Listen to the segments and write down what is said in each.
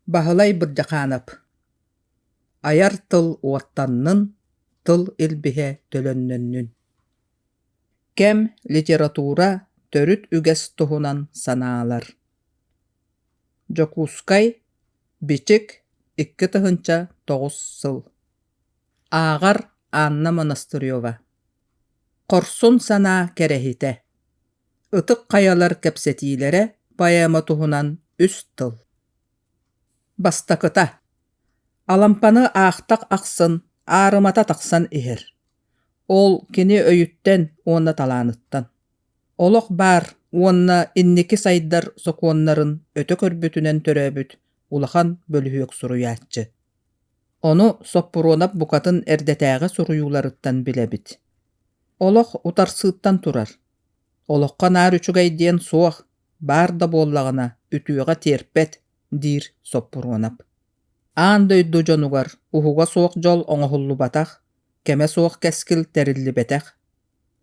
Баһылай Бырдьахаанап Айар тыл уоттаннын, тыл илбиһэ төлөннөннүн Кэм литература төрүт үгэс туһунан санаалар Дьокуускай, Бичик, икки тыһыынча тоҕус сыл Ааҕар Анна Монастырева Хорсун санаа кэрэһитэ Ытык Хайалар кэпсэтиилэрэ поэма туһунан үс тыл Бастакыта Алампаны аахтах ахсын аарымата тахсан иһэр. Ол кини өйүттэн уонна талааныттан. Олох баар уонна инники сайдар сокуоннарын өтө көрбүтүнэн төрөөбүт улахан бөлүһүөк суруйааччы. Ону Соппуруонап букатын эрдэтээҕи суруйууларыттан билэбит. Олох утарсыыттан турар. Олоххо наар үчүгэй диэн суох, баар да буоллаҕына үтүөҕэ тиэрпэт, диир Соппуруонап. Аан дойду дьонугар уһуга суох дьол оҥоһуллубатах, кэмэ суох кэскил тэриллибэтэх.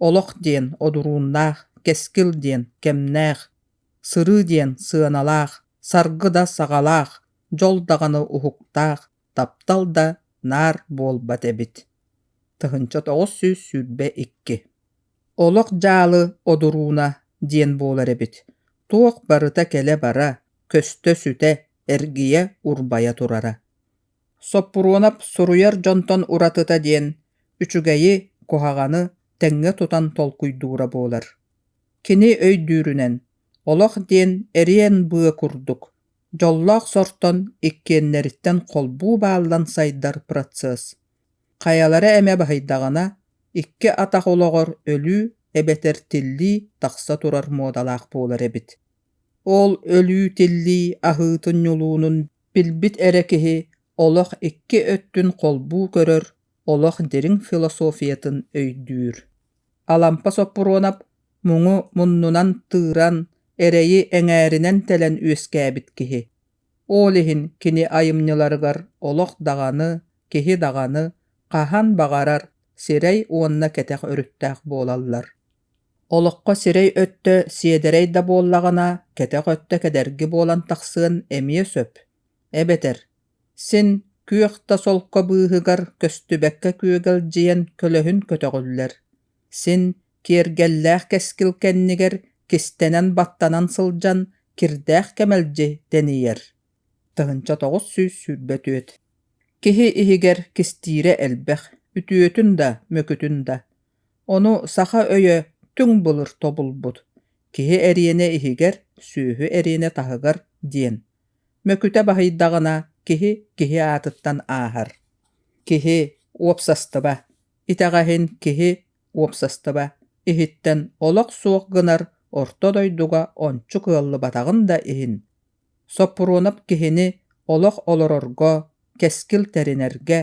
Олох диэн одурууннаах, кэскил диэн кэмнээх, сырыы диэн сыаналаах, саргы да саҕалаах, дьол даҕаны уһуктаах, таптал да наар буолбат эбит. Тыһыынча тоҕус сүүс сүүрбэ икки Олох дьаалы одурууна диэн буолар эбит. Туох барыта кэлэ-бара, көстө-сүтэ, эргийэ, урбайа турара. Соппуруонап суруйар дьонтон уратыта диэн үчүгэйи, куһаҕаны тэҥҥэ тутан толкуйдуура буолар. Кини өйдүүрүнэн, олох диэн эриэн быа курдук Дьоллоох сортон иккиэннэриттэн холбуу бааллан сайдар процесс. Хайалара эмэ баһыйдаҕына, икки атах олоҕор өлүү эбэтэр тиллии тахса турар муодалаах буолар эбит. Ол өлүү-тиллии аһыытын ньулуунун билбит эрэ киһи олох икки өттүн холбуу көрөр олох дириҥ философиятын өйдүүр. Алампа Соппуруонап муҥу муннунан тыыран, эрэйи эҥээринэн тэлэн үөскээбит киһи. Ол иһин кини айымньыларыгар олох даҕаны, киһи даҕаны хаһан баҕарар сирэй уонна кэтэх өрүттээх буолаллар. Олоххо сирэй өттө сиэдэрэй да буоллаҕына, кэтэх өттө кедэрги буолан тахсыан эмиэ сөп. Эбэтэр син күөх да солко быыһыгар көстүбэккэ күөгэлдьийэн көлөһүн көтөҕүллэр син киэргэллээх кэскил кэннигэр кистэнэн баттанан сылдьан кирдээх кэмэлдьи тэнийэр тыһыынча тоҕус сүүс сүүрбэ түөрт киһи иһигэр кистиирэ элбэх үтүөтүн да мөкүтүн да ону саха өйө түҥ былыр тобулбут киһи эриэнэ иһигэр сүөһү эриэнэ таһыгар диэн Мөкүтэ баһыйдаҕына, киһи киһи аатыттан ааһар. Киһи – уопсастыба. Итэҕэһин киһи – уопсастыба. Иһиттэн олох суох гынар орто дойдуга ончу кыаллыбатаҕын да иһин. Соппуруонап киһини олох олорорго, кэскил тэринэргэ,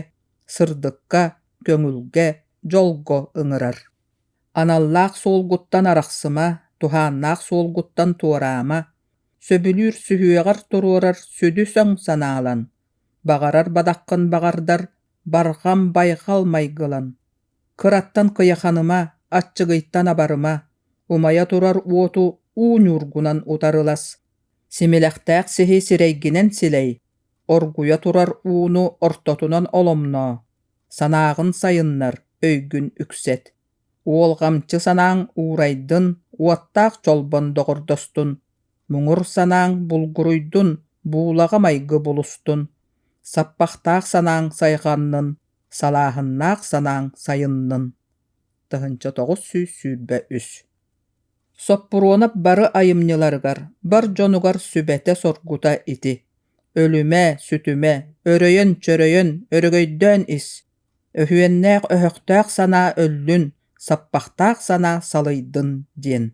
сырдыкка, көҥүлгэ, дьолго ыҥырар. аналлаах суолгуттан арахсыма, туһааннаах суолгуттан туораама, сөбүлүүр сүһүөҕэр туруорар сүдү-сөҥ санаалан, баҕарар бадаххын баҕардар, барҕам байҕал майгылан, кыраттан кыйаханыма, аччыгыйтан абарыма, умайа турар уоту уу ньуургунан утарылас, симилэхтээх сиһи сирэйгинэн силэй, оргуйа турар ууну ортотунан оломноо, санааҕын сайыннар, өйгүн үксэт. Уолҕамчы санааҥ уурайдын, уоттаах чолбон доҕордостун. Муҥур санааҥ булгуруйдун, буулаҕа майгы булустун. Саппахтаах санааҥ сайҕаннын, салааһыннаах санааҥ сайыннын. Тыһыынча тоҕус сүүс сүүрбэ үс Соппуруонап бары айымньыларыгар, бар дьонугар сүбэтэ-соргута ити. Өлүмэ, сүтүмэ, өрөйөн-чөрөйөн, өрөгөйдөөн ис. Өһүөннээх өһөхтөөх санаа өллүн, саппахтаах санаа салыйдын диэн.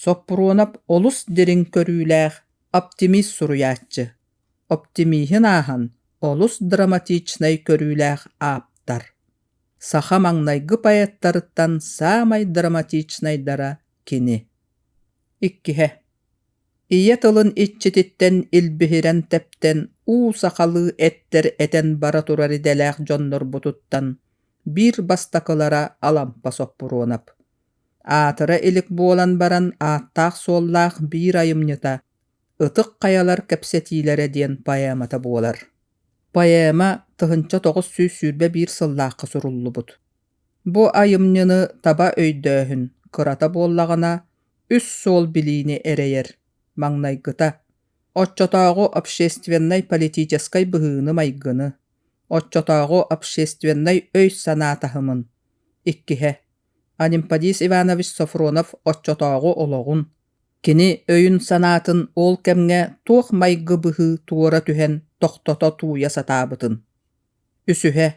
Соппуруонап олус дириҥ көрүүлээх, оптимист суруйааччы. Оптимиһын ааһан, олус драматичнай көрүүлээх ааптар. Саха маҥнайгы поэттарыттан саамай драматичнайдара кини. Иккиһэ. Ийэ тылын иччититтэн илбиһирэн тэптэн уу сахалыы эттэр этэн бара турар идэлээх дьоннорбутуттан биир бастакылара Алампа Соппуруонап. Аатыра илик буолан баран ааттаах-суоллаах биир айымньыта Ытык хайалар кэпсэтиилэрэ диэн поэмата буолар. Поэма тыһынча тоҕус сүүс сүүрбэ биир сыллаахха суруллубут. Бу айымньыны таба өйдөөһүн кырата буоллаҕына, үс суол билиини эрэйэр, маҥнайгыта, оччотооҕу общественнай-политическай быһыыны-майгыны, оччотооҕу общественнай өй-санаа таһымын, иккиһэ, Анемподист Иванович Софронов оччотооҕу олоҕун, Кини өйүн-санаатын ол кэмҥэ туох майгы быһыы туора түһэн тохтото тууйа сатаабытын, үсүһэ,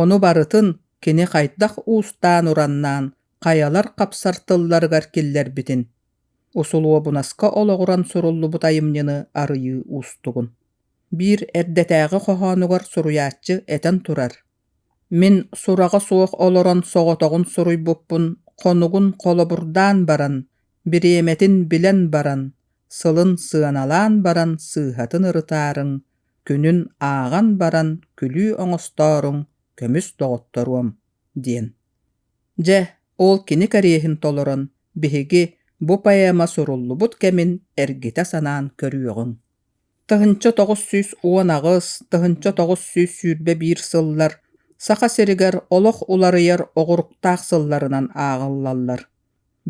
ону барытын кини хайдах уустаан-ураннаан хайалар хапсар тылларыгар киллэрбитин, усулуобунаска олоҕуран суруллубут айымньыны арыйыы уустугун. Биир эрдэтээҕи хоһоонугар суруйааччы этэн турар: Мин сураҕа суох олорон соҕотоҕун суруйбуппун хонугун холобурдаан баран, бириэмэтин билэн баран, сылын сыаналаан баран сыыһатын ырытаарыҥ, күнүн ааҕан баран күлүү оҥостооруҥ, көмүс доҕотторуом» диэн. Дьэ, ол кини кэриэһин толорон, биһиги бу поэма суруллубут кэмин эргитэ санаан көрүөҕүҥ. Тыһыынча тоҕус сүүс уон аҕыс, тыһыынча тоҕус сүүс сүүрбэ биир сыллар Саха сиригэр олох уларыйар оҕуруктаах сылларынан ааҕыллаллар.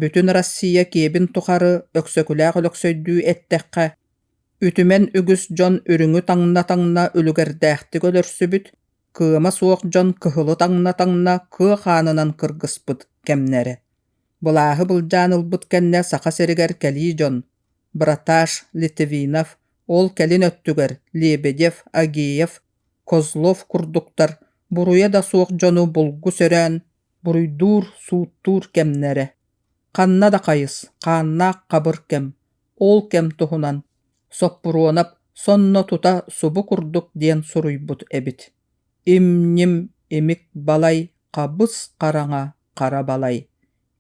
Бүтүн Россия киэбин тухары Өксөкүлээх Өлөксөйдүү эттэххэ, үтүмэн үгүс дьон үрүҥү таҥна-таҥна үлүгэрдээхтик өлөрсүбүт, кыама суох дьон кыһылы таҥна-таҥна кыа хаанынан кыргыспыт кэмнэрэ. Былааһы былдьаан ылбыт кэннэ Саха сиригэр кэлии дьон браташ литвинов ол кэлин өттүгэр лебедев агеев козлов курдуктар буруйа да суох дьону булгу сөрөөн буруйдуур сууттуур кэмнэрэ ханна да хайыс хааннаах хабыр кэм ол кэм туһунан соппуруонап сонно тута субу курдук диэн суруйбут эбит им ним имик балай хабыс хараҥа хара балай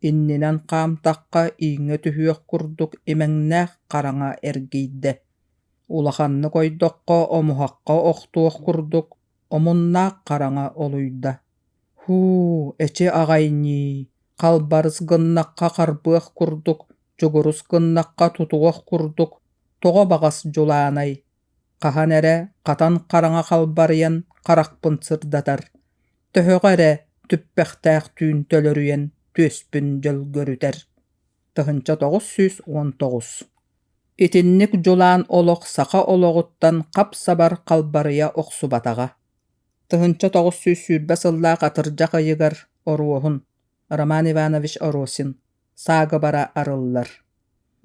иннинэн хаамтахха ииҥҥэ түһүөх курдук имэҥнээх хараҥа эргийдэ, улаханнык ойдоххо омуһахха охтуох курдук омуннаах хараҥа олуйда. «Һуу, эчи аҕай-ньии, халбарыс гыннахха харбыах курдук, дьугурус гыннахха тутуох курдук, тоҕо баҕас дьулаанай, хаһан эрэ хатан хараҥа халбарыйан харахпын сырдатар, төһөҕө эрэ түппэхтээх түүн төлөрүйэн түөспүн дьөлгөрүтэр. Тыһыынча тоҕус сүүс уон тоҕус Итинник дьулаан олох саха олоҕуттан хап-сабар халбарыйа охсубатаҕа. Тыһыынча тоҕус сүүс сүүрбэ сыллаах атырдьах ыйыгар оруоһун Роман Иванович Оросин саагыбара арыллар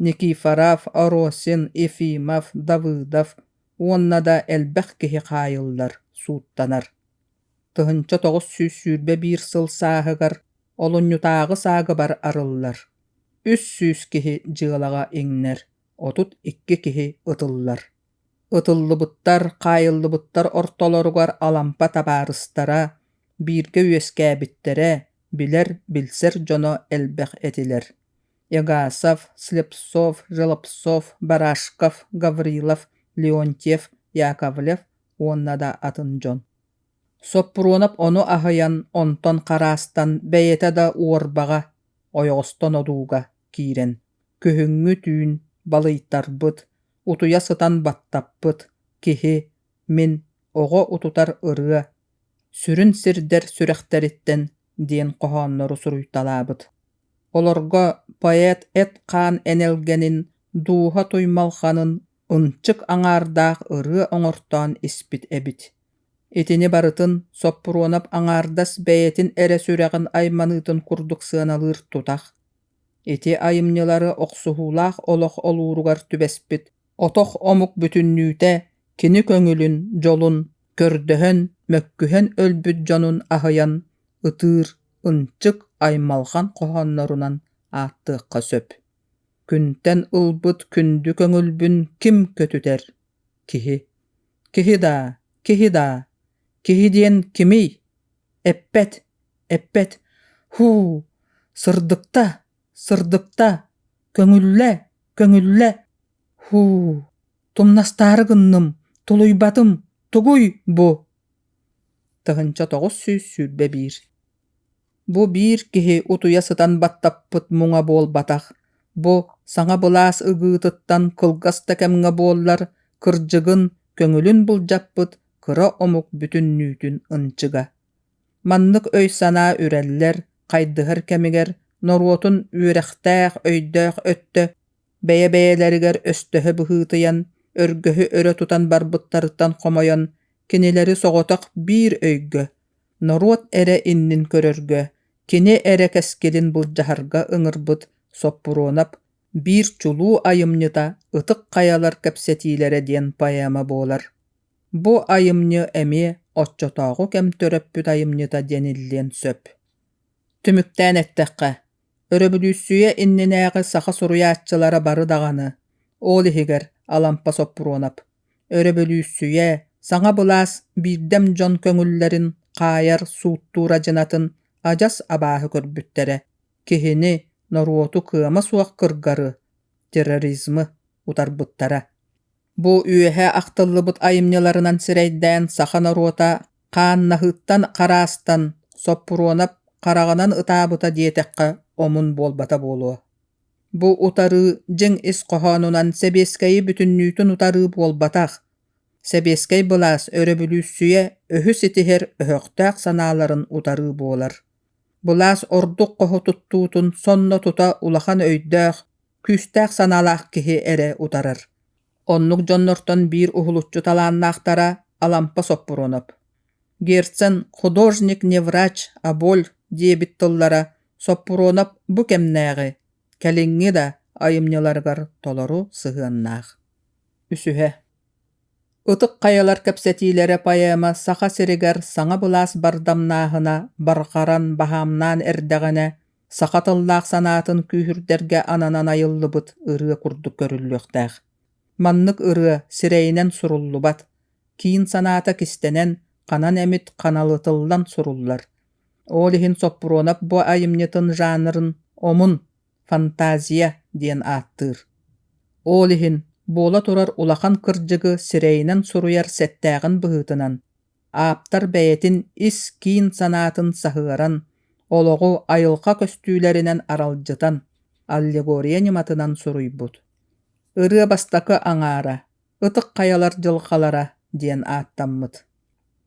Никифоров, Оросин, Ефимов, Давыдов уонна да элбэх киһи хаайыллар, сууттанар. Тыһынча тоҕус сүүс сүүрбэ биир сыл сааһыгар олунньутааҕы саагыбар арыллар. Үс сүүс киһи дьыалаҕа иҥнэр, отут икки киһи ытыллар. Ытыллыбыттар, хаайыллыбыттар ортолоругар Алампа табаарыстара, бииргэ үөскээбиттэрэ, билэр, билсэр дьоно элбэх этилэр. Егасов, Слепцов, Желобцов, Барашков, Гаврилов, Леонтьев, Яковлев уонна да атын дьон. Соппуруонап ону аһыйан, онтон хараастан, бэйэтэ да уорбаҕа, ойоҕостон одууга киирэн, күһүҥҥү түүн балыйтарбыт, утуйа сытан баттаппыт киһи мин оҕо утутар ырыа сүрүн сирдэр сүрэхтэриттэн диэн хоһооннору суруйталаабыт олорго поэт эт-хаан энэлгэнин дууһа туймалханын ынчык аҥаардаах ырыа оҥортоон испит эбит итини барытын соппуруонап аҥаардас бэйэтин эрэ сүрэҕин айманыытын курдук сыаналыыр тутах Ити айымньылары охсуһуулаах олох олууругар түбэспит отох омук бүтүннүүтэ кини көҥүлүн, дьолун көрдөһөн, мөккүһэн өлбүт дьонун аһыйан ытыыр ынчык аймалҕан хоһооннорунан ааттыахха сөп. Күнтэн ылбыт күндү көҥүлбүн ким көтүтэр? Киһи. Киһи даа, киһи даа, киһи диэн кимий? Эппэт. Эппэт «Һуу, сырдыкта, сырдыкта, көҥүллэ, көҥүллэ, һуу, тумнастаары гынным, тулуйбатым, тугуй бу?» Тыһыынча тоҕус сүүс сүүрбэ биир Бу биир киһи утуйа сытан баттаппыт муҥа буолбатах. Бу саҥа былаас ygыытыттан кылгас да кэмҥэ буоллар, кырдьыгын, көҥүлүн былдьаппыт кыра омук бүтүннүүтүн ынчыга. Маннык өй-санаа үрэллэр, хайдыһар кэмигэр норуотун үөрэхтээх өйдөөх өттө бэйэ-бэйэлэригэр өстөһө быһыытыйан, өргөһү өрө тутан барбыттарыттан хомойон, кинилэри соҕотох биир өйгө, норуот эрэ иннин көрөргө, кини эрэ кэскилин былдьаһарга ыҥырбыт Соппуруонап биир чулуу айымньыта Ытык Хайалар кэпсэтиилэрэ диэн поэма буолар. Бу айымньы эмиэ оччотооҕу кэм төрөппүт айымньыта диэн иллиэн сөп. Түмүктээн эттэххэ, өрөбөлүүссүйэ иннинээҕи саха суруйааччылара бары даҕаны, ол иһигэр Алампа Соппуруонап, өрөбөлүүссүйэ саҥа былаас биирдэм дьон көҥүллэрин хаайар сууттуур адьынатын адьас абааһы көрбүттэрэ, киһини, норуоту кыама суох кыргары, терроризмы утарбыттара. Бу үөһэ ахтыллыбыт айымньыларынан сирэйдээн саха норуота хааннаһыттан хараастан Соппуруонап хараҕынан ытаабыта диэтэххэ омун буолбата буолуо. Бу утарыы дьиҥ ис хоһоонунан сэбиэскэйи бүтүннүүтүн утарыы буолбатах. Сэбиэскэй былаас өрөбүлүүссүйэ өһү ситиһэр өһөхтөөх санааларын утарыы буолар. Былаас ордук хоһо туттуутун сонно тута улахан өйдөөх, күүстээх санаалаах киһи эрэ утарар оннук дьоннортон биир уһулуччу талааннаахтара Алампа Соппуруонап Герцен художник не врач а боль диэбит тыллара Соппуруонап бу кэмнээҕи кэлиҥҥи да айымньыларыгар толору сыһыаннаах үсүһэ Ытык Хайалар кэпсэтиилэрэ поэма Саха сиригэр саҥа былаас бардамнааһына барҕаран баһаамнаан эрдэҕинэ саха тыллаах санаатын күүһүрдэргэ ананан айыллыбыт ырыа курдук көрүллүөхтээх. Маннык ырыа сирэйинэн суруллубат, киин санаата кистэнэн, ханан эмит ханалытыллан суруллар. Ол иһин Соппуруонап бу айымньытын жанрын омун фантазия диэн ааттыыр. Ол иһин буола турар улахан кырдьыгы сирэйинэн суруйар сэттээҕин быһыытынан ааптар бэйэтин ис-киин санаатын саһыаран, олоҕу айылҕа көстүүлэринэн аралдьытан, аллегория ньыматынан суруйбут. «Ырыа бастакы аҥаара», «Ытык хайалар дьылҕалара» диэн ааттаммыт.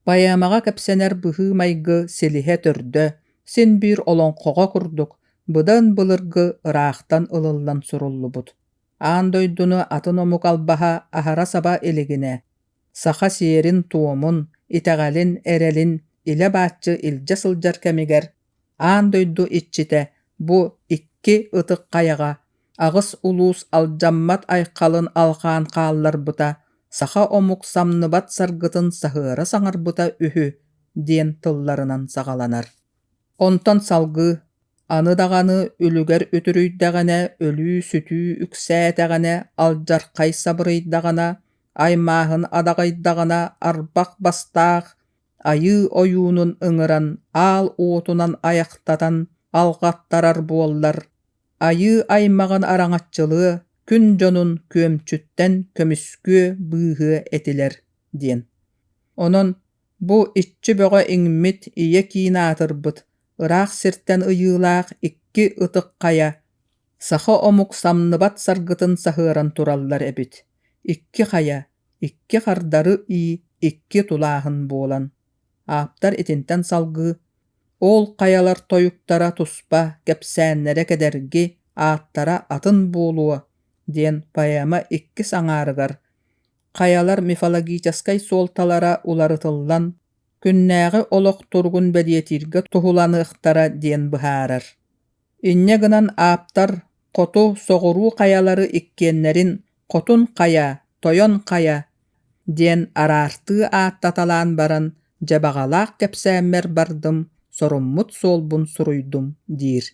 Поэмаҕа кэпсэнэр быһыы-майгы силиһэ төрдө, син биир олоҥхоҕо курдук, быдан былыргы, ыраахтан ылыллан суруллубут. Аан дойдуну атын омук албаһа аһара саба илигинэ, саха сиэрин-туомун, итэҕэлин, эрэлин илэ-бааччы илдьэ сылдьар кэмигэр аан дойду иччитэ бу икки ытык хайаҕа аҕыс улуус алдьаммат айхалын алҕаан хаалларбыта саха омук самныбат саргытын саһыара саҥарбыта үһү диэн тылларынан саҕаланар Онтон салгыы, аны даҕаны үлүгэр үтүрүйдэҕинэ, өлүү-сүтүү үксээтэҕинэ, алдьархай сабырыйдаҕына, аймааһын адаҕайдаҕына, арбах бастаах айыы ойуунун ыҥыран, аал уотунан айахтатан алҕаттарар буоллар, айыы аймаҕын араҥаччылыа, күн дьонун күөмчүттэн көмүскүө, быыһыа этилэр диэн. Онон Бу иччи бөҕө иҥмит ийэ киин аатырбыт ыраах сиртэн ыйыылаах икки ытык хайа саха омук самныбат саргытын саһыаран тураллар эбит икки хайа икки хардары ии икки тулааһын буолан ааптар итинтэн салгыы ол хайалар тойуктара туспа кэпсээннэрэ кэдэрги ааттара атын буолуо диэн поэма иккис аҥаарыгар хайалар мифологическай суолталара уларытыллан, күннээҕи олох туругун бэлиэтииргэ туһуланыахтара диэн быһаарар. Инньэ гынан ааптар хоту соҕуруу хайалары иккиэннэрин «Хотун хайа», «Тойон хайа» диэн араартыы ааттаталаан баран дьабаҕалаах кэпсээммэр бардым, соруммут суолбун суруйдум диир.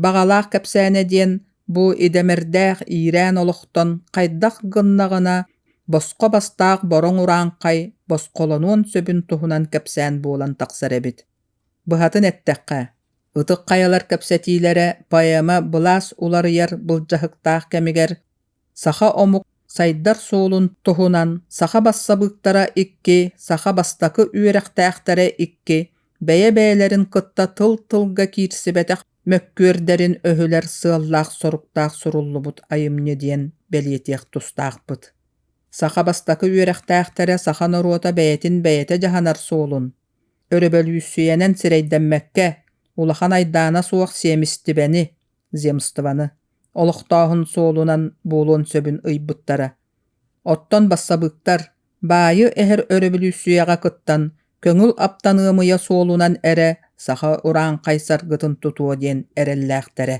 Баҕалаах кэпсээнэ диэн бу идэмэрдээх иирээн олохтон хайдах гыннаҕына босхо бастаах бороҥ урааҥхай босхолонуон сөбүн туһунан кэпсээн буолан тахсар эбит. Быһатын эттэххэ, Ытык Хайалар кэпсэтиилэрэ поэма былаас уларыйар былдьаһыктаах кэмигэр Саха омук сайдар суолун туһунан саха бассабыыктара икки, саха бастакы үөрэхтээхтэрэ икки бэйэ-бэйэлэрин кытта тыл-тылга киирсибэтэх мөккүөрдэрин өһүлэр сыаллаах-соруктаах суруллубут айымньы диэн бэлиэтиэх тустаахпыт. Саха бастакы үөрэхтээхтэрэ саха норуота бэйэтин бэйэтэ дьаһанар суолун, өрөбөлүүссүйэнэн сирэйдэммэккэ, улахан айдаана суох сиэмистибэни, земствоны олохтооһун суолунан буолуон сөбүн ыйбыттара. Оттон бассабыыктар баайы эһэр өрөбөлүүссүйэҕэ кыттан көҥүл аптаныамыйа суолунан эрэ саха урааҥхай саргытын тутуо диэн эрэллээхтэрэ.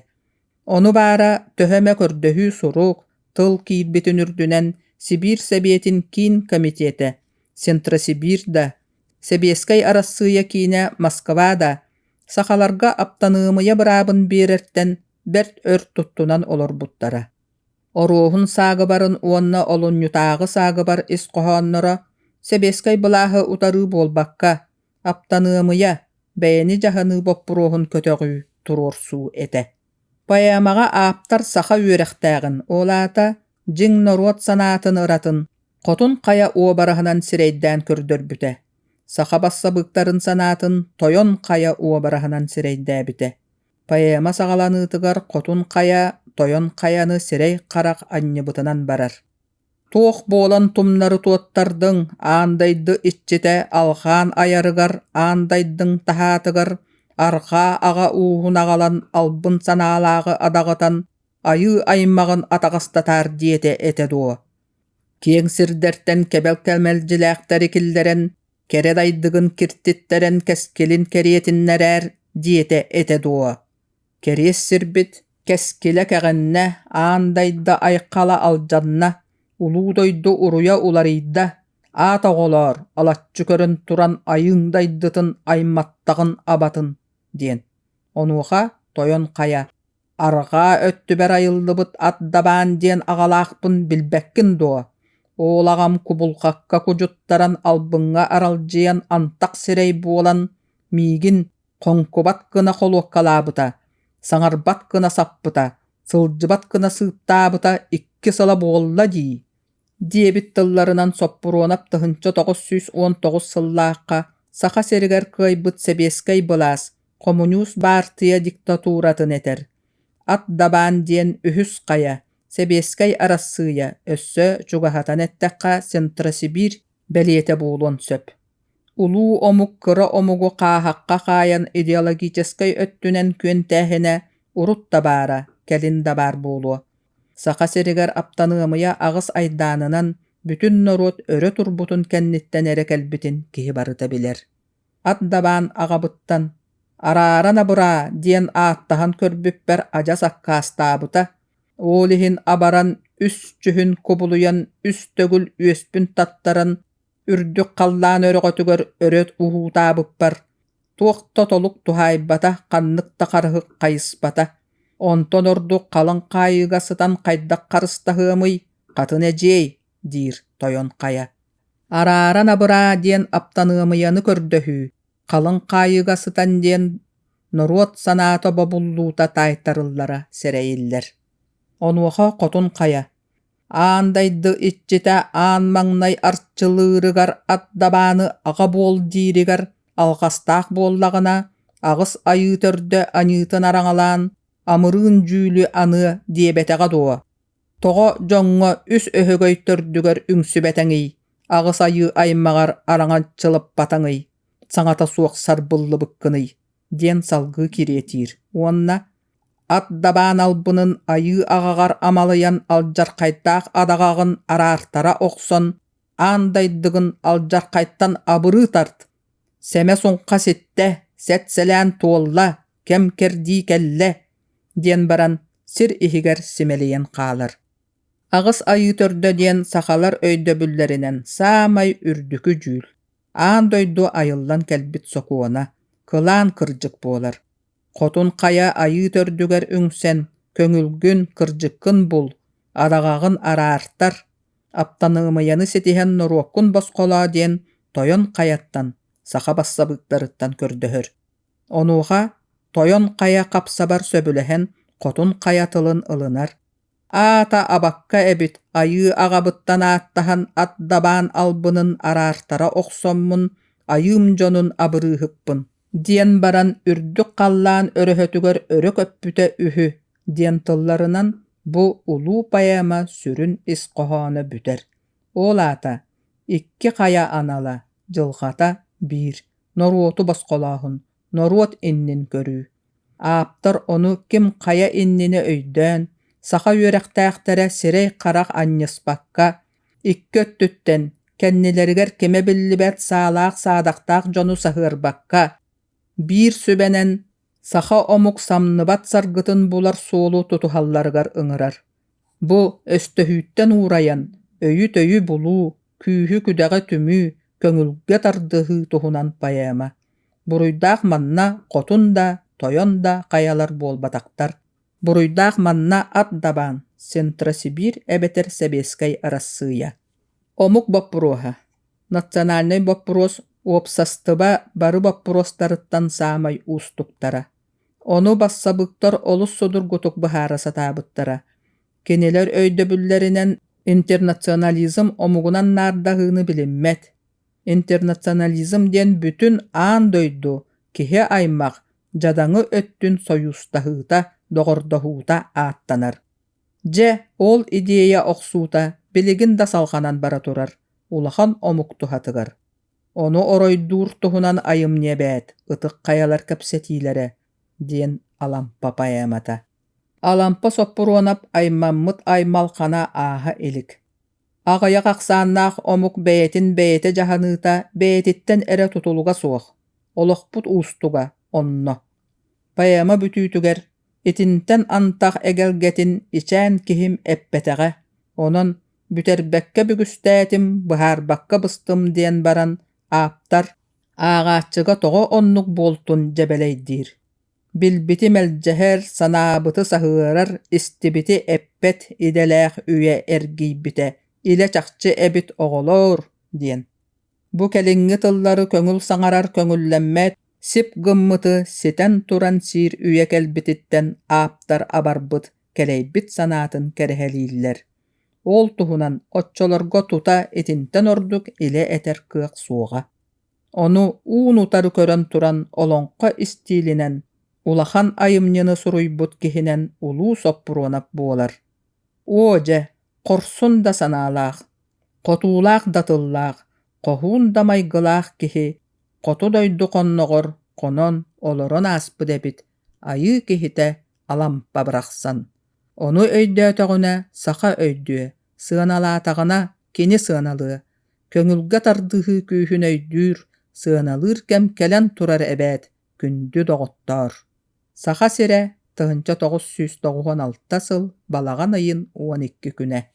Ону баара төһө эмэ көрдөһүү сурук, тыл киирбитин үрдүнэн Сибиир Сэбиэтин киин комитетэ, Сентросибирь да, Сэбиэскэй Арассыыйа киинэ Москва да Сахаларга аптаныамыйа быраабын биэрэртэн бэрт өр туттунан олорбуттара. Оруоһун саагыбарын уонна олунньутааҕы саагыбар ис хоһоонноро сэбиэскэй былааһы утарыы буолбакка, аптаныамыйа, бэйэни дьаһаныы боппуруоһун көтөҕүү, туруорсуу этэ. Поэмаҕа ааптар саха үөрэхтээҕин, ол аата дьиҥ норуот санаатын ыратын, хотун хайа уобараһынан сирэйдээн көрдөрбүтэ. саха бассабыыктарын санаатын Тойон Хайа уобараһынан сирэйдээбитэ. Поэма саҕаланыытыгар Хотун Хайа Тойон Хайаны сирэй-харах анньыбытынан барар. Туох буолан тумнары туоттардыҥ аан дойду иччитэ алхаан айарыгар аан дайдыҥ таһаатыгар арҕаа аҕа ууһун аҕалан албын санаалааҕы адаҕытан айыы аймаҕын атаҕастатаар диэтэ этэ дуо киэҥ сирдэртэн кэбэл мэлдьилээхтэри киллэрэн кэрэ дайдыгын киртиттэрэн кэскилин кэриэтиннэрээр диэтэ этэ дуо кэриэс сирбит кэскилэ кэҕиннэ аан дайда айхала алдьанна улуу дойду уруйа уларыйда аат оҕолоор алаччы көрөн туран айыҥ дайдытын айматтаҕын абатын диэн онуоха тойон хайа Арҕаа өттүбэр айыллыбыт ат дабаан диэн аҕалаахпын билбэккин дуо? Уол аҕам кубулҕакка кудьуттаран албыҥҥа аралдьыйан антах сирэй буолан, миигин хоҥкубат гына холуоккалаабыта, саҥарбат гына саппыта, сылдьыбат гына сыыттаабыта икки сыла буолла дии диэбит тылларынан Соппуруонап тыһыынча тоҕус сүүс уон тоҕус сыллаахха Саха сиригэр кыайбыт сэбиэскэй былаас, хомуньуус баартыйа диктатуратын этэр. Ат дабаан диэн үһүс хайа, Сэбиэскэй Арассыыйа өссө чугаһатан эттэххэ Центросибирь бэлиэтэ буолуон сөп. Улуу омук кыра омугу хааһахха хаайан идеологическай өттүнэн күөнтээһинэ урут да баара, кэлин да баар буолуо. Саха сиригэр аптаныамыйа аҕыс айдаанынан бүтүн норуот өрө турбутун кэнниттэн эрэ кэлбитин киһи барыта билэр. Ат дабаан аҕабыттан «Араара набыраа» диэн ааттаһан көрбүппэр адьас аккаастаабыта, ол иһин абаран үс дьүһүн кубулуйан үс төгүл үөспүн таттаран үрдүк халлаан өрөҕөтүгэр өрөт уһуутаабыппар туох да толук туһаайбата ханнык да харыһык хайыспата онтон ордук халыҥ хаайыыга сытан хайдах харыстаһыамый хатын эдьиэй диир тойон хайа арааран абыраа диэн аптаныамыйаны көрдөһүү халыҥ хаайыыга сытан диэн норуот санаата бобуллуута таайтарыллара сэрэйиллэр онуоха хотун хайа аан дойду иччитэ аан маҥнай арчылыырыгар ат дабааны аҕа буол дииригэр алҕастаах буоллаҕына аҕыс айыы төрдө аньыытын араҥалаан амырыын дьүүлү аныа диэбэтэҕэ дуо тоҕо дьоҥҥо үс өһөгөй төрдүгэр үҥсүбэтэҥий аҕыс айыы аймаҕар араҥаччылаппатаҥый саҥата суох сарбыллыбыккыный диэн салгыы кириэтиир уонна ат дабаан албынын айыы аҕаҕар амалыйан алдьархайдаах адаҕаҕын араартара охсон аан дайдыгын алдьархайтан абырыы тарт сэмэ суҥха ситтэ сэт-сэлээн туолла кэм кэрдии кэллэ диэн баран сир иһигэр симэлийэн хаалар аҕыс айыы төрдө диэн сахалар өйдөбүллэринэн саамай үрдүкү дьүүл аан дойду айыллан кэлбит сокуона кылаан кырдьык буолар Хотун Хайа айыы төрдүгэр үҥсэн, «Көҥүлгүн, кырдьыккын бул, араҕаҕын араартар, аптаныамыйаны ситиһэн норуоккун босхолоо» диэн Тойон Хайаттан, саха бассабыыктарыттан көрдөһөр. Онуоха Тойон Хайа хапсабар сөбүлэһэн Хотун Хайа тылын ылынар. аата абакка эбит айыы аҕабыттан ааттаһан ат дабаан албынын араартара охсоммун айыым дьонун абырыыһыкпын диэн баран үрдүк халлаан өрөһөтүгэр өрө көппүтэ үһү диэн тылларынан бу улуу поэма сүрүн ис хоһооно бүтэр ол аата икки хайа анала дьылҕата биир норуоту босхолооһун норуот иннин көрүү ааптар ону ким хайа иннинэ өйдөөн саха үөрэхтээхтэрэ сирэй-харах анньыспакка икки өттүттэн кэннилэригэр кимэ биллибэт саалаах-саадахтаах дьону саһыарбакка биир сүбэнэн саха омук самныбат саргытын булар суолу тутуһалларыгар ыҥырар Бу өстөһүүттэн уурайан, өйү-төйү булуу, күүһү-күдэҕи түмүү, көҥүлгэ тардыһыы туһунан поэма. Буруйдаах манна хотун да, тойон да хайалар буолбатахтар. Буруйдаах манна ат дабаан, Сентросибирь эбэтэр Сэбиэскэй Арассыыйа. Омук боппуруоһа. Национальнай боппуруос уопсастыба бары боппуруостарыттан саамай уустуктара. Ону бассабыктар олус судургутук быһаара сатаабыттара. Кинилэр өйдөбүллэринэн интернационализм омугунан наардаһыыны билиммэт. Интернационализм диэн бүтүн аан дойду, киһи-аймах, дьадаҥы өттүн сойуустаһыыта, доҕордоһуута ааттанар. Дьэ, ол идея охсуута билигин да салҕанан бара турар, улахан омук туһатыгар. Ону оройдуур туһунан айымньы эбээт, ытык хайалар кэпсэтиилэрэ, диэн Алампа поэмата. Алампа Соппуруонап аймаммыт аймалхана ааһа илик. Аҕыйах ахсааннаах омук бэйэтин бэйэтэ дьаһаныыта бэйэтиттэн эрэ тутулуга суох, олохпут уустуга онно. Поэма бүтүүтүгэр Итинтэн антах эгэлгэтин ичээн киһим эппэтэҕэ, онон бүтэрбэккэ бүгүстээтим, быһаарбакка быстым диэн баран ааптар ааҕааччыга тоҕо оннук буолтун дьэбэлэйдиир. Билбити мэлдьэһэр, санаабыты саһыарар, истибити эппэт идэлээх үйэ эргийбитэ, илэ чахчы эбит оҕолоор диэн. Бу кэлиҥҥи тыллары көҥүл саҥарар көҥүллэммэт сип гыммыты ситэн туран сиир үйэ кэлбититтэн ааптар абарбыт, кэлэйбит санаатын кэрэһэлииллэр. Ол туһунан оччолорго тута итинтэн ордук илэ этэр кыах суоҕа. Ону уун-утары көрөн туран олоҥхо истиилинэн, улахан айымньыны суруйбут киһинэн улуу соппуруонап буолар. Оо дьэ, хорсун да санаалаах, хотуулаах да тыллаах, хоһуун да майгылаах киһи хоту дойду хонноҕор хонон олорон ааспыт эбит айыы киһитэ Алампа барахсан. Ону өйдөөтөҕүнэ саха өйдүө, сыаналаатаҕына кини сыаналыа, көҥүлгэ тардыһыы күүһүн өйдүүр, сыаналыыр кэм кэлэн турар эбээт, күндү доҕоттоор! Саха сирэ тыһыынча тоҕус сүүс тоҕуһун алта сыл балаҕан ыйын уон икки күнэ